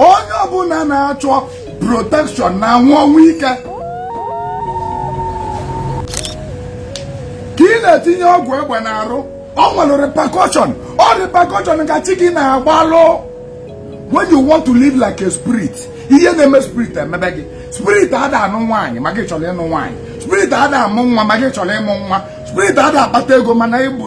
onye ọbụla na-achọ protection na-anwụ ọnwụ ike ka ị na-etinye ọgwụ egbe n'arụ ọ nwelu repercussion ọ repercussion ka chi gị na-agbalụ when you want to live like a spirit ihe na-eme spirit emebe gị spirit ada anụ nwaanyị ma gị chọrọ ịnụ nwaanyị spirit ada amụ nwa ma gị chọrọ ịmụ nwa spirit ada akpata ego mana ị bụ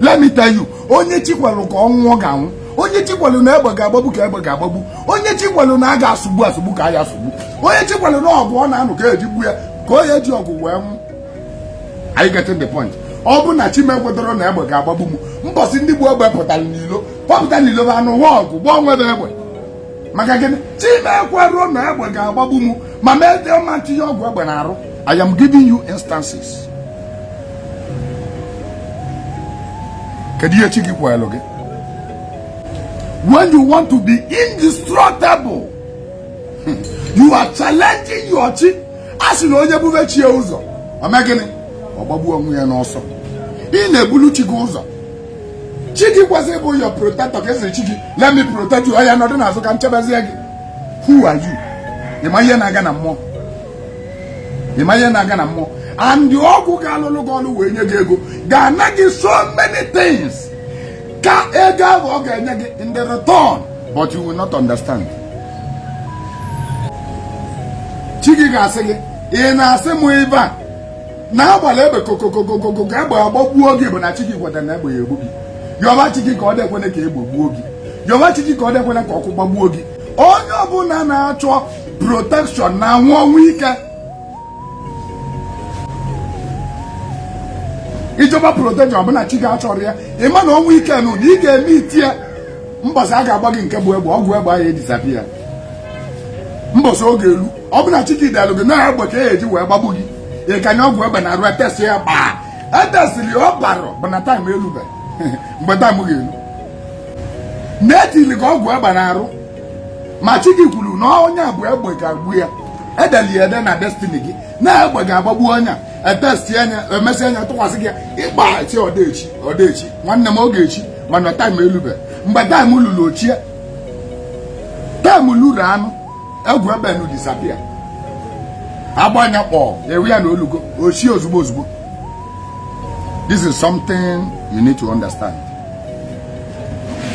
let me tell you onye chi kwelu ka ọ nwụọ ga-anwụ onye chi kwelu na egbe ga-agbagbu ka egbe ga-agbagbu onye chi kwelu na a ga-asụgbu asụgbu ka a ya-asụgbu onye chi kwelu na ọgụ ọ na-anụ ka e ji gbu ya ka ọ ya-eji ọgụ wee nwụ are you getting the point ọ bụ na chi m ekwedoro na egbe ga-agbagbu m mbọsị ndị bu egbe pụtara n'ilo pọpụta n'ilo ba anụwa ọgụ gbaa onwe ba egbe maka gịnị chi m ekwero na egbe ga-agbagbu m ma mee dị ọma ntinye ọgwụ egbe na arụ I am giving you instances kedu ihe chi gị kwelu gị when you want to be indestructible hmm, you are challenging your chi a sị na onye bube chi ya ụzọ o mee gịnị ọ gbagbuo onwe ya n'ọsọ ị na-ebulu chi gị ụzọ chi gị kwesịrị ịbụ your protector ka ị sịrị chi gị let me protect you oya nọdụ n'azụ ka m chebezie gị who are you ị ma ihe na-aga na mmụọ ị ma ihe na-aga na mmụọ and ọgwụ ga-alụlụ gị ọlụ wee nye gị ego ga-ana gị so many things ka ego ahụ ọ ga-enye gị in the return but you will not understand chi gị ga-asị gị ị na-asị m ebe a na-agbalụ egbe kokokokokogo ka egbe agbagbuo gị bụ na chi gị kweta na egbe ya-egbu gị yọba chi gị ka ọ dịkwene ka egbe gbuo gị yọba chi gị ka ọ dịkwene ka ọkụ gbagbuo gị onye ọbụla na-achọ protection na-anwụ ọnwụ ike ị chọba protection ọ bụ na chi gị achọrọ ya ị ma na ọnwụ ike nụ na ị ga-eme iti ya mbọsị a ga-agba gị nke bụ egbe ọgwụ egbe ahụ e-disappear mbọsị oge elu ọ bụ na chi gị delụ gị na egbe ka a ya-eji wee gbagbu gị ị kanye ọgwụ egbe na arụ e test ya gbaa e test ọ barọ bụ na time elube mgbe time ga-elu na e tili gị ọgwụ egbe na arụ ma chi gị kwuru na onye a bụ egbe ga-egbu ya e deli ede na destiny gị na egbe ga-agbagbu onye e test anya emesị anya tụkwasị gị ịgba ti odeshi odeshi nwanne m odeshi mana time elube mgbe time lulu o shie time lulu anụ ọgwụ egbe nụ disappear a gbaa ya kpọ ewe ya na o lugo o sie ozugbo ozugbo this is something you need to understand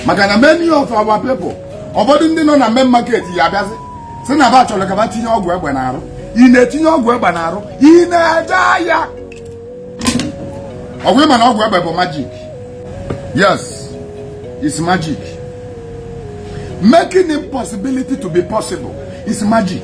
maka na many of our people ụfọdụ ndị nọ na main market ya-abịazi sị na ba chọrọ ka ba tinye ọgwụ egbe na arụ ị na-etinye ọgwụ egbe na arụ ị na-eje aya ọgwụ ị ma na ọgwụ egbe bụ magic yes it's magic making impossibility to be possible is magic